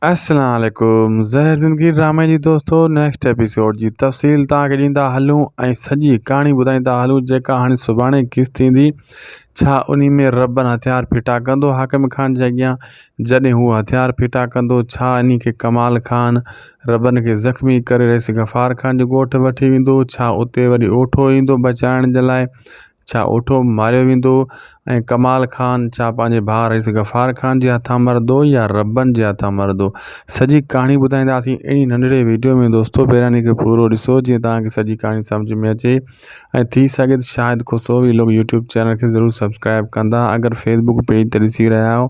السلام عليڪم زهر زندگي ڊرامي جي دوستو نيڪسٽ ايپيسوڊ جي تفصيل تان کي ڏيندا هلون ۽ سڄي ڪهاڻي ٻڌائيندا هلون جيڪا هاڻي سڀاڻي قسط ٿيندي ڇا انهي ۾ ربن هٿيار ڦٽا ڪندو حاڪم خان جي اڳيان جڏهن هو هٿيار ڦٽا ڪندو ڇا انهي کي ڪمال خان ربن کي زخمي ڪري رئيس غفار خان جي ڳوٺ وٺي ويندو ڇا اتي وري اوٺو ايندو بچائڻ جي لاء ڇا اوٺو ماريو ويندو ۽ ڪمال خان ڇا پنهنجي ڀاء رئيس غفار خان جي هٿان مردو يا ربن جي هٿان مردو سڄي ڪهاڻي ٻڌائينداسين اهڙي ننڍڙي وڊيو ۾ دوستو پهريان ان کي پورو ڏسو جيئن توهان کي سڄي ڪهاڻي سمجهه ۾ اچي ۽ ٿي سگهي ته Shahid Khusro vlog YouTube channel کي ضرور سبسڪرائب ڪندا اگر فيسبوڪ پيج تي ڏسي رهيا آهيو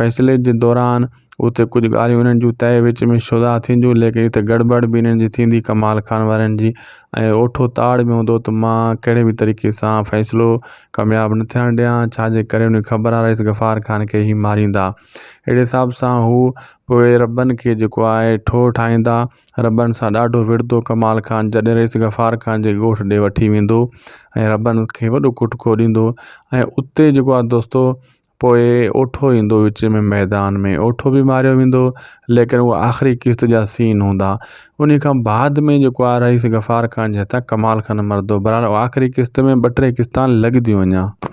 فيصلي جي دوران اتي ڪجهه ڳالهيون انهن جون تهه وچ ۾ شروع ٿينديون ليڪن اتي گڙٻڙ به انهن جي ٿيندي ڪمال خان وارن جي ۽ اوٺو تاڙ به هوندو ته مان ڪهڙي به طريقي سان فيصلو ڪامياب نه ٿيڻ ڏيان ڇا جي ڪري انهن کي خبر آهي رئيس غفار خان کي هي ماريندا اهڙي حساب سان هو پوء ربن کي جيڪو آهي ٺوهه ٺاهيندا ربن سان ڏاڍو وڙهندو ڪمال خان جڏهن رئيس غفار خان جي ڳوٺ ڏي وٺي ويندو ۽ ربن کي وڏو ڪٽڪو ڏيندو ۽ اتي جيڪو آهي دوستو پوء اوٺو ايندو وچ ۾ ميدان ۾ اوٺو به ماريو ويندو ليڪن هو آخري قسط جا سين هوندا ان کان بعد ۾ جيڪو آ رئيس غفار خان جي هٿان ڪمال خان مردو برحال آخري قسط ۾ ٻه ٽي قسطان لڳ ديون اڃا